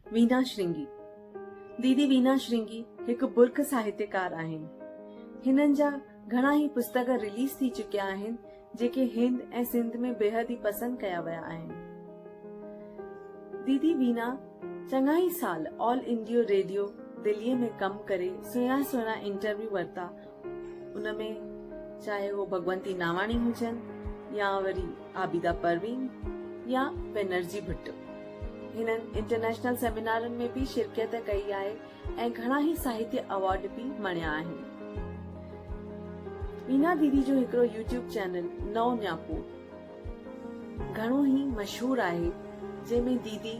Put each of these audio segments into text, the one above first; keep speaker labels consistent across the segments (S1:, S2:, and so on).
S1: وينا شرنگي، ديدي وينا شرنگي هڪ برک ساهتيڪار آهن. هنن جا گهڻا ئي پستڪ رليز ٿي چڪيا آهن جيڪي هند ۽ سنڌ ۾ بيحد ئي پسند ڪيا ويا آهن. ديدي وينا چڱا ئي سال آل انڊيو ريڊيو دلي ۾ ڪم ڪري سهڻا سهڻا انٽرويو ورتا. ان ۾ چاهي هو ڀڳونتي ناواڻي هجن يا وري عابده پروين يا بينرجي ڀٽو هنن انٽرنيشنل سيمينارن ۾ به شرڪيت ڪئي آهي ۽ گهڻا ئي ساهتيه اوارڊ به مڻيا آهن مينا ديدي جو هڪڙو يوٽيوب چينل نئون نياپو گهڻو ئي مشهور آهي، جنهن ۾ ديدي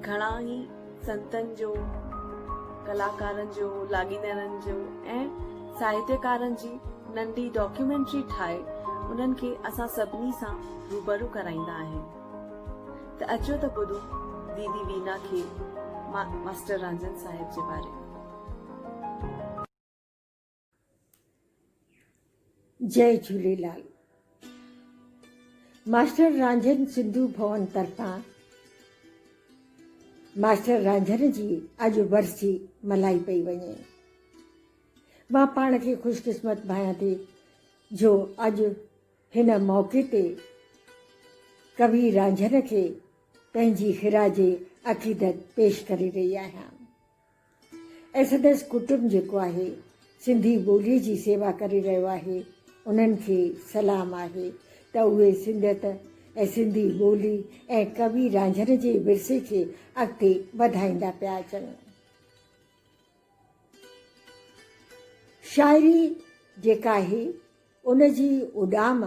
S1: گهڻا ئي سنتن جو، ڪلاڪارن جو، لاڳيتارن جو ۽ ساهتيڪارن جي ننڍي ڊاڪيومينٽري ٺاهي انهن کي اسان سڀني سان روبرو ڪرائيندا آهن ته اچو ته ٻڌون ديدي وينا کي ماسٽر رانجهن صاحب جي باري ۾.
S2: جئي جهوليلال ماسٽر رانجهن سنڌو ڀون طرفان ماسٽر رانجهن جي اڄ ورسي ملائي پئي وڃي مان پاڻ کي خوش قسمت ڀايان ٿي جو اڄ هن موقعي تي ڪوي رانجهن کي پنهنجي خراج عقيدت پيش ڪري رهي آهيان ايسڊس ڪٽنب جيڪو آهي سنڌي ٻولي جي سيوا ڪري رهيو آهي انهن کي سلام آهي ته اهي سنڌيت ۽ سنڌي ٻولي ۽ ڪوي رانجهن جي ورثي کي اڳتي وڌائيندا پيا اچن. شاعري جيڪا آهي ان جي اڏام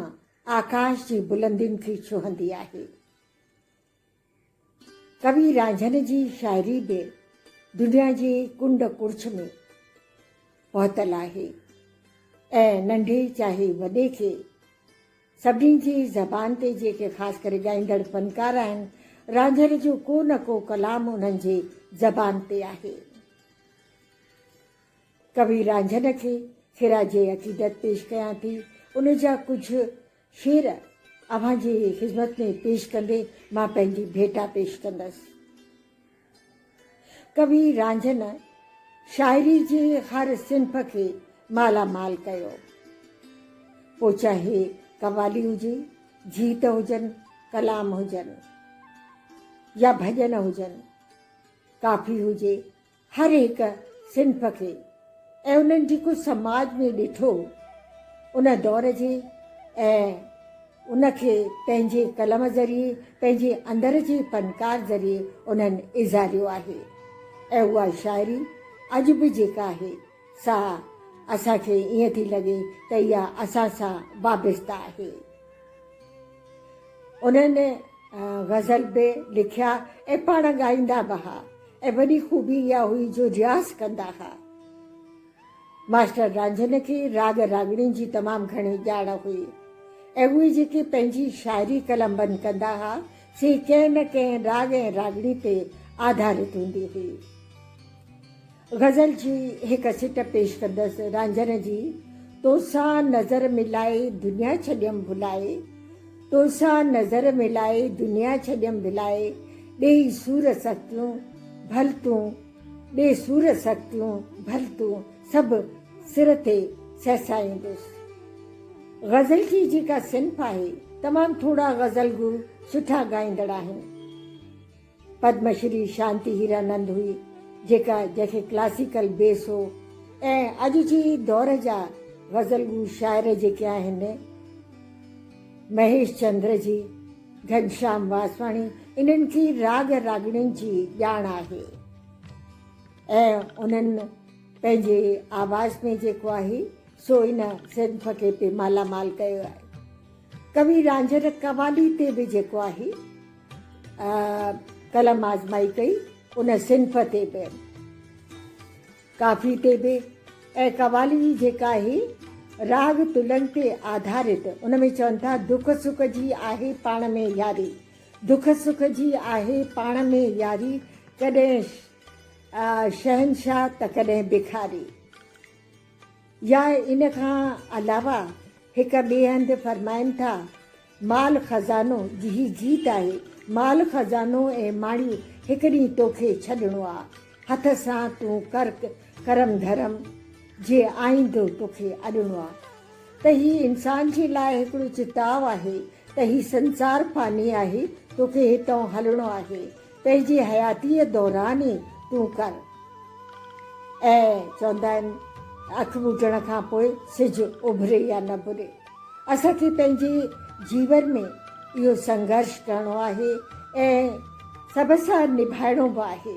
S2: آڪاش جي بلندين کي ڇهندي آهي. ڪوي رانجهن جي شاعري به دنيا جي ڪنڊ ڪڙڇ ۾ پهتل آهي ۽ ننڍي چاهي وڏي کي سڀني جي زبان تي جيڪي خاص ڪري ڳائيندڙ فنڪار آهن رانجهن جو ڪو نه ڪو ڪلام انهن جي زبان تي آهي ڪوي رانجهن کي خراج عقيدت پيش ڪيان ٿي ان جا ڪجهه فير اوهان جي خذمت ۾ پيش ڪندي مان پنهنجي ڀيٽا پيش ڪندس. ڪوي رانجهن شاعري جي هر صنف کي مالا مال ڪيو. پوء چاهي قوالي هجي، جيت هجن، ڪلام هجن يا ڀڄن هجن، ڪافي هجي، هر هڪ صنف کي ۽ انهن جي ڪجهه سماج ۾ ڏٺو ان دور جي ۽ ان کي پنهنجي قلم ذريعي پنهنجي اندر جي فنڪار ذريعي انهن اظهاريو آهي ۽ اها شاعري اڄ به جيڪا آهي سا اسان کي ائين ٿي لڳي ته اها اسان سان وابسته آهي. انهن غزل به لکيا ۽ پاڻ ڳائيندا به ها ۽ وڏي خوبي اها هئي جو رياض ڪندا ها. ماسٽر رانجهن کي راڳ راڳڻين جي تمام گهڻي ڄاڻ هئي ۽ اهي جيڪي پنهنجي شاعري قلمبند ڪندا ها سي ڪنهن نه ڪنهن راڳ ۽ راڳڻي تي آڌارت هوندي هئي. غزل جي هڪ سٽ پيش ڪندس رانجهن جي تو سان نظر ملائي دنيا ڇڏيم ڀلائي تو سان نظر ملائي دنيا ڇڏيم ڀلائي ڏيئي سور سختيون ڀل تون ڏي سور سختيون ڀل تون سڀ سر تي سهسائيندس غزل جي جيڪا صنف آهي تمام ٿورا غزل گو سٺا ڳائيندڙ آهن. پدم شري شانتي هيرانند هئي، جيڪا جنهن کي ڪلاسيڪل بيس هو ۽ اڄ جي دور جا غزل گو شاعر جيڪي آهن، مهيش چندر جي، گهنشام واسواڻي، انهن کي راڳ راڳڻين جي ڄاڻ آهي ۽ انهن پنهنجي آواز ۾ جيڪو آهي سو ان صنف کي به مالامال ڪيو آهي. ڪوي رانجهه قوالي تي به جيڪو آهي. قلم آزمائي ڪئي ان صنف تي به ڪافي تي به ۽ قوالي جيڪا آهي راڳ تلن تي آڌارت ان ۾ چون ٿا دک سک جي آهي پاڻ ۾ ياري دک سک جي آهي پاڻ ۾ ياري ڪڏهن شهنشاهه ته ڪڏهن بکاري يا ان کان علاوه هڪ ٻئي هنڌ فرمائن ٿا، مال خزانو جيهي جيت آهي، مال خزانو ۽ ماڻي هڪ ڏينهن توکي ڇڏڻو آ، هٿ سان تون ڪر ڪرم ڌرم جي آئيندو توکي اڏڻو آ. ته هي انسان جي لاء هڪڙو چتاء آهي ته هي سنسار فاني آهي توکي هتئون هلڻو آهي، تنهنجي حياتيء دوران ئي تون ڪر. اهي چوندا آهن ته اک ٻوٽڻ کان پوء سج اڀري يا نه ڀري. اسان کي پنهنجي جيون ۾ اهو سنگهرش ڪرڻو آهي ۽ سڀ سان نڀائڻو به آهي.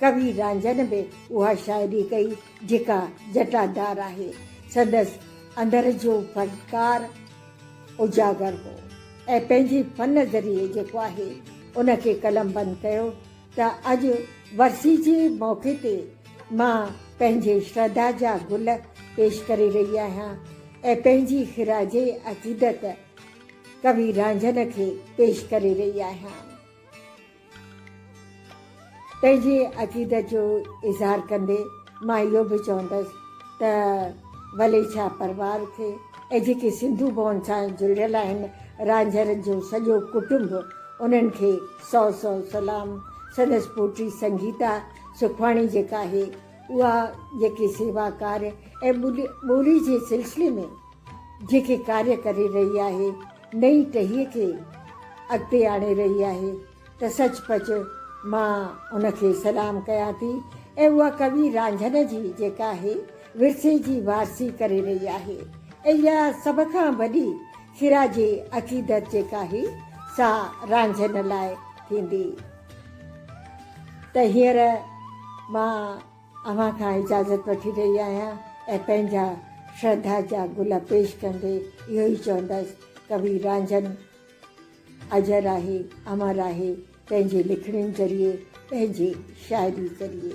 S2: ڪوي رانجهن به اها شاعري ڪئي جيڪا جٽادار آهي. سندس اندر جو فنڪار اجاگر هو ۽ پنهنجي فن ذريعي جيڪو آهي ان کي قلمبند ڪيو ته اڄ ورسي جي موقعي تي مان پنهنجي شرڌا جا گل پيش ڪري رهي آهيان ۽ پنهنجي خراج عقيدت ڪوي رانجهن کي پيش ڪري رهي آهيان. پنهنجي عقيدت جو اظهار ڪندي مان اهو به چوندس ته ولي ڇا پروار کي ۽ جيڪي سنڌو ڀون سان جڙيل آهن رانجهرن جو سڄو ڪٽنب انهن کي سؤ سؤ سلام سندس پوٽي سنگيتا سکواڻي جيڪا آهي اها جيڪي سيوا ڪار ۽ ٻولي جي سلسلي ۾ جيڪي ڪاري ڪري رهي آهي، نئين ٽهيء کي اڳتي آڻي رهي آهي ته سچ پچ مان ان کي سلام ڪيان ٿي ۽ اها ڪوي رانجهن جي جيڪا هي ورثي جي وارثي ڪري رهي آهي ۽ يا سڀ کان وڏي خراج عقيدت جيڪا هي سا رانجهن لاء ٿيندي ته هينئر مان اوهان کان اجازت وٺي رهي آهيان ۽ پنهنجا شرڌا جا گل پيش ڪندي اهو ئي چوندس، ڪوي رانجهن اجر آهي، امر آهي، پنهنجي لکڻين ذريعي، پنهنجي شاعري ذريعي.